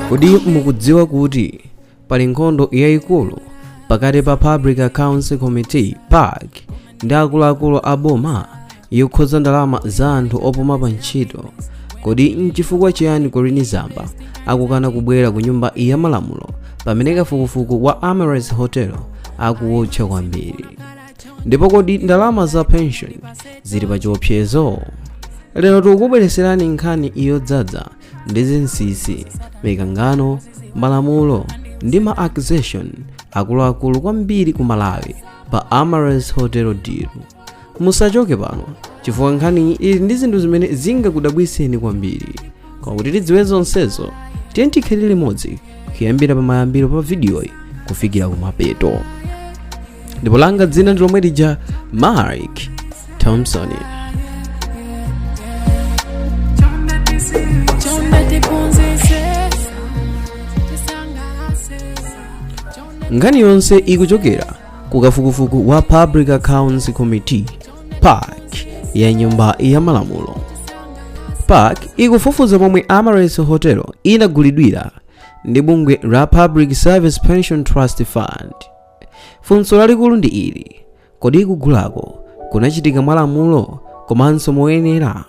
kodi mukudziwa kuti pali nkhondo yayikulu pakati pa public accounts committee pac ndi akuluakulu a boma yokhudza ndalama za anthu opuma pa ntchito kodi nchifukwa chiyani colleen zamba akukana kubwera ku nyumba ya malamulo pamene kafukufuku wa amaryllis hotel akuwotcha kwambiri ndipo kodi ndalama za pension zili pa chiopsezo lero tikukubwereserani nkhani yodzadza ndi zinsisi mikangano malamulo ndi ma accusation akuluakulu kwambiri ku malawi pa amaryllis hotel deal musachoke pano chifukwa nkhani ili ndi zinthu zimene zingakudabwiseni kwambiri koma kuti tidziwe zonsezo tiyeni tikhale limodzi kuyambira pamayambiro pa vidiyoyi kufikira kumapeto ndipo langa dzina ndi lomwe lija mark thompson nkhani yonse ikuchokera ku kafukufuku wa public accounts committee pac ya nyumba ya malamulo pac ikufufuza momwe amaryllis hotel inagulidwira ndi bungwe la public service pension trust fund funso lalikulu ndi ili kodi kugulako kunachitika mwalamulo komanso moyenera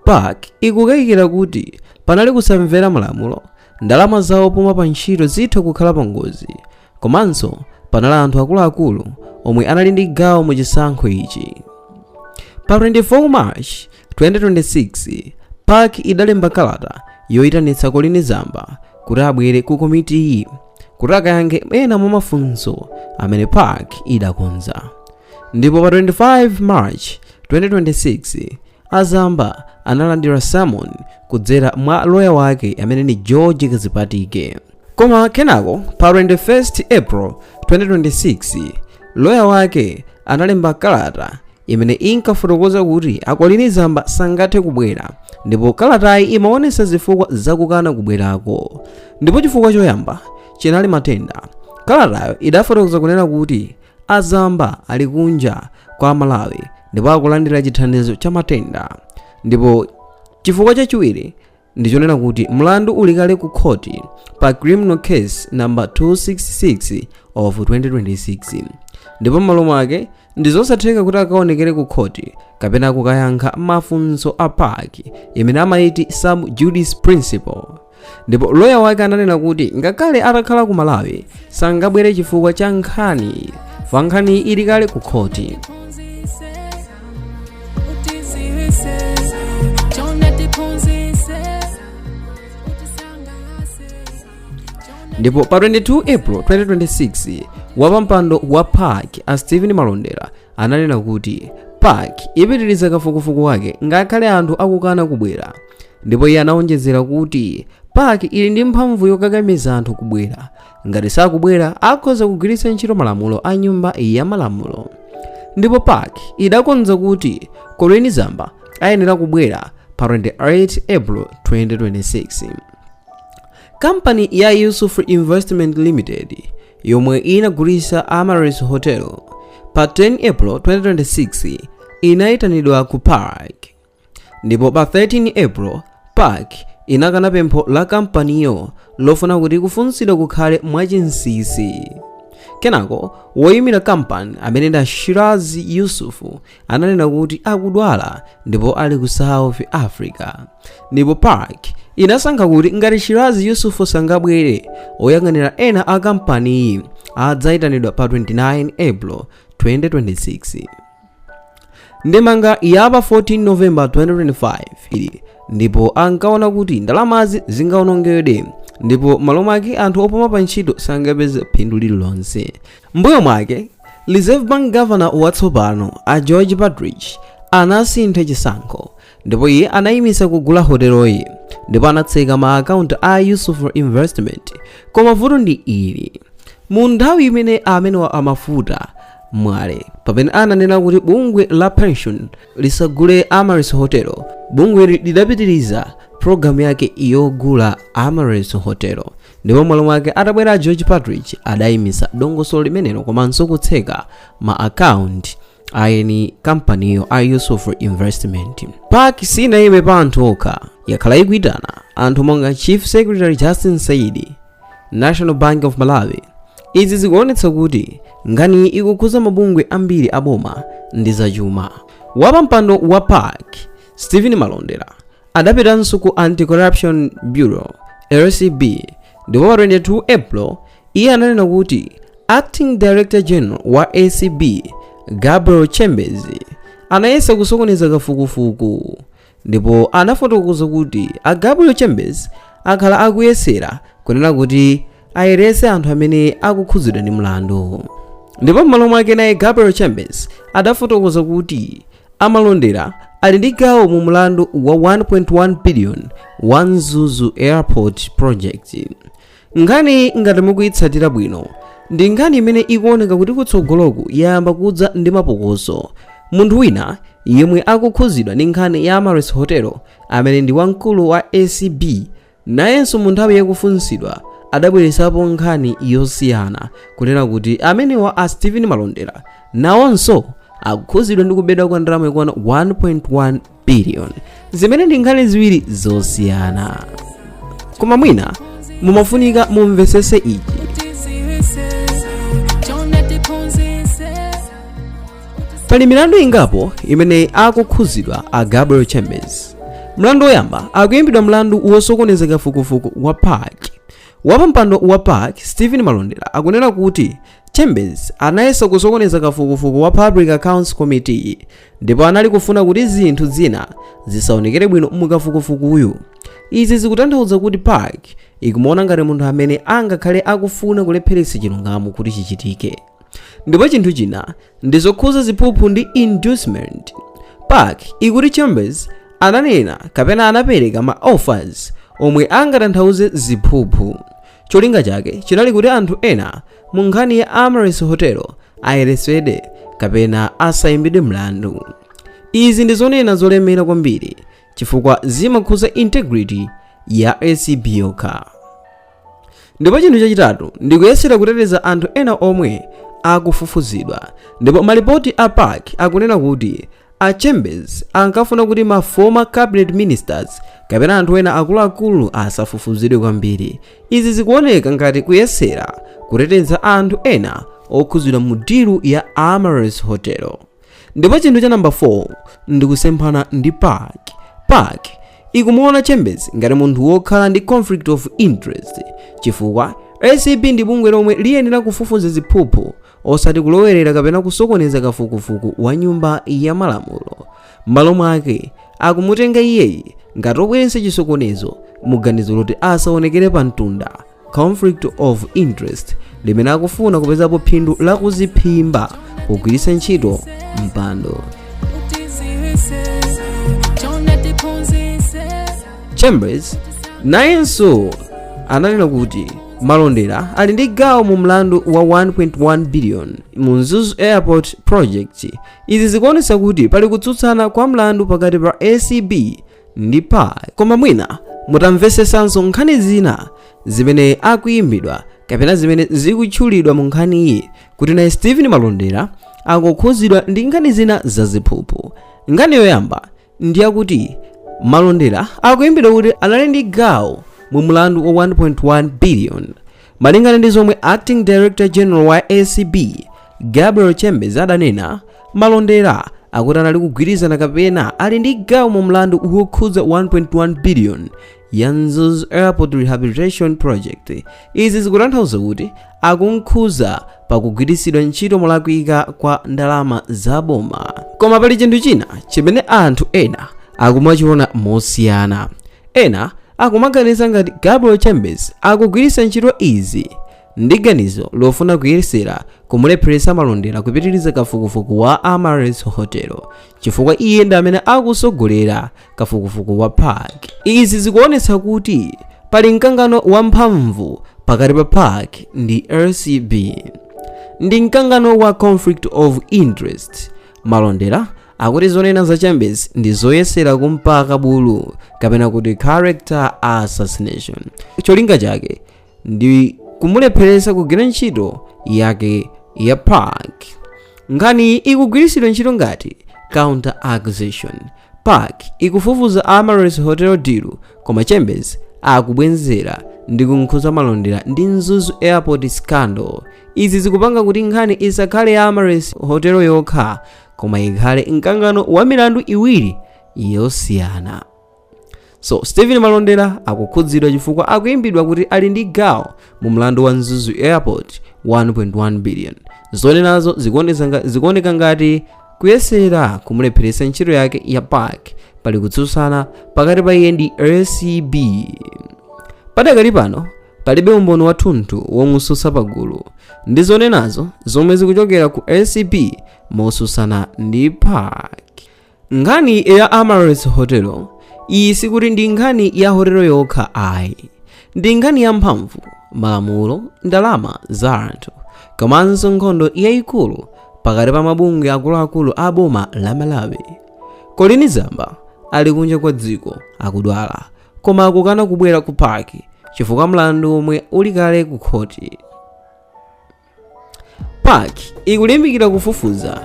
pac ikukayikira kuti panali kusamvera malamulo ndalama za opuma pa ntchito zitha kukhala pa ngozi komanso panali anthu akuluakulu omwe anali ndi gawo mu chisankho ichi pa 24 march 2026 pac idalemba kalata yoyitanitsa colleen zamba kuti abwere ku komitiyi kuti akayankhe ena mwa mafunso amene pac idakonza ndipo pa 25 march 2026 A Zamba analandira summon kudzera mwa loya wake amene ni George Kadzipatike. Koma kenako pa 21 April 2026 loya wake analemba kalata imene inkafotokoza kuti a Colleen Zamba sangathe kubwera ndipo kalatayi imaonesa zifukwa zakukana kubwerako ndipo chifukwa choyamba chinali matenda kalatayo idafotokoza kunena kuti a zamba ali kunja kwa malawi ndipo akulandira chithandizo cha matenda ndipo chifukwa chachiwiri ndichonena kuti mlandu uli kale ku khoti pa criminal case number 266 of 2026 ndipo m'malo mwake ndi zosatheka kuti akaonekere ku khoti kapena kukayankha mafunso a pac imene amayiti sub judice principle ndipo loya wake ananena kuti ngakhale atakhala ku malawi sangabwere chifukwa cha nkhani fa nkhani ili kale ku khoti ndipo pa 22 april 2026 wapampando wa pac a stephen malondera ananena kuti pac ipitiriza kafukufuku wake ngakhale anthu akukana kubwera ndipo iye anawonjezera kuti pac ili ndi mphamvu yokakamiza anthu kubwera ngati sakubwera akhoza kugwiritsa ntchito malamulo a nyumba ya malamulo ndipo pac idakonza kuti colleen zamba ayenera kubwera pa 28 april 2026 kampani ya yusuf investment limited yomwe inagulitsa amaryllis hotel pa 10 april 2026 inayitanidwa ku pac Ndipo pa 13 April, pac inakana pempho la kampaniyo lofuna kuti kufunsidwa kukhale mwachinsinsi. Kenako, woimira kampani amene ndi a Shiraz Yusuf ananena kuti akudwala ndipo ali ku South Africa. Ndipo pac inasankha kuti ngati Shiraz Yusuf sangabwere, oyang'anira ena a kampaniyi adzaitanidwa pa 29 April 2026. ndemanga yapa 14 november 2025 ndipo ankaona kuti ndalamazi zingawonongedwe ndipo malo mwake anthu opuma pa ntchito sangapeze phindu lililonse m'mbuyo mwake reserve bank governor watsopano a george partridge anasintha chisankho ndipo iye anayimitsa kugula hoteloyi ndipo anatseka ma akaunti a yusuf investment koma vuto ndi ili mu nthawi imene amenewa a mafuta mwale pamene ananena kuti bungwe la pension lisagule amaryllis hotel bungwe lidapitiriza programu yake yogula amaryllis hotel ndipo m'malo mwake atabwera george partridge adayimitsa dongosolo limenelo komanso kutseka ma akaunti a eni kampaniyo a yusuf investment pac sinayime pa anthu okha yakhala ikuitana anthu monga chief secretary justin saidi national bank of malawi izi zikuonetsa kuti nkhani ikukhuza mabungwe ambiri aboma ndi zachuma wapampando wa pac stephen malondera adapitanso ku anti-corruption bureau acb ndipo pa 22 april iye ananena kuti acting director general wa acb gabriel chembezi anayesa kusokoneza kafukufuku ndipo anafotokoza kuti a gabriel chembezi akhala akuyesera kunena kuti ayerese anthu amene akukhudzidwa ndi mlandu ndipo m'malo mwake naye gabriel chembezi adafotokoza kuti a malondera ali ndi gawo mu mlandu wa 1.1 billion wa mzuzu airport project nkhani ngati mukuyitsatira bwino ndi nkhani imene ikuoneka kuti kutsogoloku yayamba kudza ndi mapokoso munthu wina yemwe akukhuzidwa ndi nkhani ya amaryllis hotel amene ndi wamkulu wa acb nayenso mu nthawi yakufunsidwa adabweresapo nkhani yosiyana kunena kuti amenewa a stephen malondera nawonso akukhuzidwa ndi kubedwa kwa ndalama yokwana 1.1 billion zimene ndi nkhani ziwiri zosiyana koma mwina mumafunika mumvesese ichi pali milandu ingapo imene akukhuzidwa a gabriel chembezi mlandu woyamba akuyimbidwa mlandu wosokoneza kafukufuku wa pac wapampando wa pac stephen malondera akunena kuti chembezi anayesa kusokoneza kafukufuku wa public accounts committee ndipo anali kufuna kuti zinthu zina zisaonekere bwino mukafukufukuyu izi zikutanthauza kuti pac ikumuona ngati munthu amene angakhale akufuna kulepheretsa chilungamo kuti chichitike ndipo chinthu china ndi zokhuza ziphuphu ndi inducement pac ikuti chembezi ananena kapena anapereka ma offers omwe angatanthauze ziphuphu cholinga chake chinali kuti anthu ena mu nkhani ya Amaryllis Hotel ayeresedwe kapena asayimbidwe mlandu. Izi ndi zonena zolemera kwambiri chifukwa zimakhuza integrity ya acb yokha ndipo chinthu chachitatu ndikuyesera kuteteza anthu ena omwe akufufuzidwa ndipo malipoti a pac akunena kuti a chembezi ankafuna kuti ma former cabinet ministers kapena anthu ena akuluakulu asafufuzidwe kwambiri izi zikuoneka ngati kuyesera kuteteza anthu ena okhudzidwa mu dilu ya Amaryllis Hotel ndipo chinthu cha namba 4 ndi kusemphana ndi pac pac ikumuona chembezi ngati munthu wokhala ndi conflict of interest chifukwa acb ndi bungwe lomwe liyenera kufufuza ziphuphu osati kulowerera kapena kusokoneza kafukufuku wa nyumba ya malamulo m'malo mwake akumutenga iyeyi ngati obweretsa chisokonezo muganizo loti asaonekere pa mtunda conflict of interest limene akufuna kupezapo phindu la kuziphimba kugwiritsa ntchito mpando chembezi nayenso ananena kuti malondera ali ndi gawo mu mlandu wa 1.1 billion mu mzuzu airport project izi zikuonetsa kuti pali kutsutsana kwa mlandu pakati pa acb ndi pac koma mwina mutamvesesanso nkhani zina zimene akuyimbidwa kapena zimene zikutchulidwa mu nkhaniyi kuti naye stephen malondera akukhuzidwa ndi nkhani zina zaziphuphu nkhani yoyamba ndi yakuti malondera akuyimbidwa kuti anali ndi gawo mu mlandu wa 1.1 billion Malingana ndi zomwe Acting Director General wa ACB Gabriel Chembezi adanena, Malondera akuti anali kugwirizana kapena ali ndi gawo mu mlandu wokhudza 1.1 billion ya Mzuzu Airport Rehabilitation Project. Izi zikutanthauza kuti akumkhuza pakugwiritsidwa ntchito molakwika kwa ndalama za boma koma pali chinthu china chimene anthu ena akumachiona mosiyana ena akumaganiza ngati gabriel chembezi akugwiritsa ntchito izi ndi ganizo lofuna kuyesera kumulepheretsa malondera kupitiriza kafukufuku wa amaryllis hotel chifukwa iye ndi amene akutsogolera kafukufuku wa pac izi zikuonetsa kuti pali mkangano wamphamvu pakati pa pac ndi acb ndi mkangano wa conflict of interest malondera akuti zonena za chembezi ndi zoyesera kumpaka bulu kapena kuti character assassination cholinga chake ndi kumulepheretsa kugwira ntchito yake ya pac nkhani ikugwiritsidwa ntchito ngati counter accusation pac ikufufuza amaryllis hotel deal koma chembezi akubwenzera ndi kunkhuza malondera ndi mzuzu airport scandal izi zikupanga kuti nkhani isakhale ya amaryllis hotel yokha koma ikhale mkangano wa milandu iwiri yosiyana so stephen malondera akukhudzidwa chifukwa akuimbidwa kuti ali ndi gawo mu mlandu wa mzuzu airport 1.1 billion zonenazo zikuonesa nga- zikuoneka ngati kuyesera kumulepheretsa ntchito yake ya pac pali kutsutsana pakati pa iye ndi acb padakali pano palibe umboni wathunthu womususa pagulu ndi zonenazo zomwe zikuchokera ku acb mosusana ndi pac nkhani ya amaryllis hotel iyi sikuti ndi nkhani ya hotelo yokha ayi ndi nkhani ya mphamvu malamulo ndalama za anthu komanso nkhondo yayikulu pakati pa mabungwe akuluakulu a boma la malawi colleen zamba ali kunja kwa dziko akudwala koma akukana kubwera ku pac chifukwa mlandu omwe uli kale ku khoti pac ikulimbikira kufufuza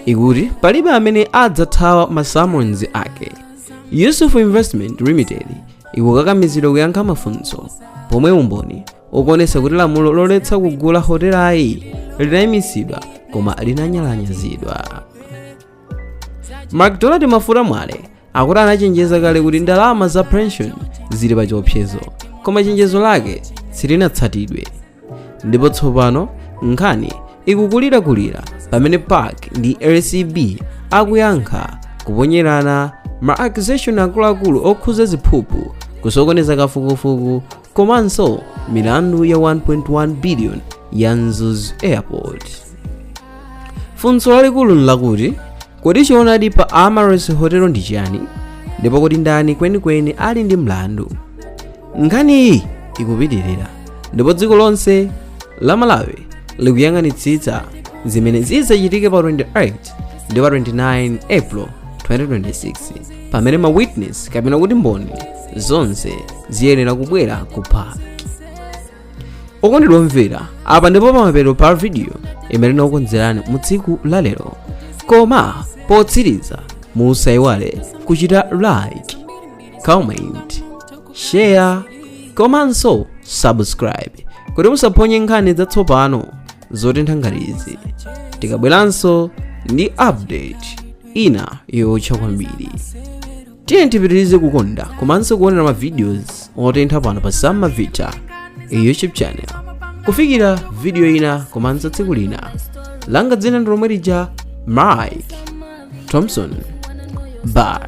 ikuti palibe amene adzathawa ma summons ake yusuf investment limited ikukakamizidwa kuyankha mafunso pomwe umboni ukuonetsa kuti lamulo loletsa kugula hotelayi linayimitsidwa koma linanyalanyazidwa macdonald mafuta mwale akuti anachenjeza kale kuti ndalama za pension zili pa chiopsezo koma chenjezo lake silinatsatidwe ndipo tsopano nkhani ikukulirakulira pamene pac ndi acb akuyankha kuponyerana ma accusation akuluakulu okhuza ziphuphu kusokoneza kafukufuku komanso milandu ya 1.1 billion ya mzuzu airport funso lalikulu nlakuti kodi choonadi pa amaryllis hotel ndi chiyani ndipo kodi ndani kwenikweni ali ndi mlandu nkhaniyi ikupitirira ndipo dziko lonse la malawi likuyang'anitsitsa zimene zidzachitike pa 28 ndi pa 29 april 2026 pamene ma witness kapena kuti mboni zonse ziyenera kubwera ku pac okondedwa omvera apa ndipo pamapeto pa video imene tinakukonzerani mu tsiku la lero koma potsiriza musaiwale kuchita like comment share komanso subscribe kuti musaphonye nkhani zatsopano zotentha ngati izi tikabweranso ndi update ina yotcha kwambiri tiyeni tipitirize kukonda komanso kuonera ma videos otentha pano pa sama vita youtube channel kufikira video ina komanso tsiku lina langa dzina ndi lomwe lija mike thompson bye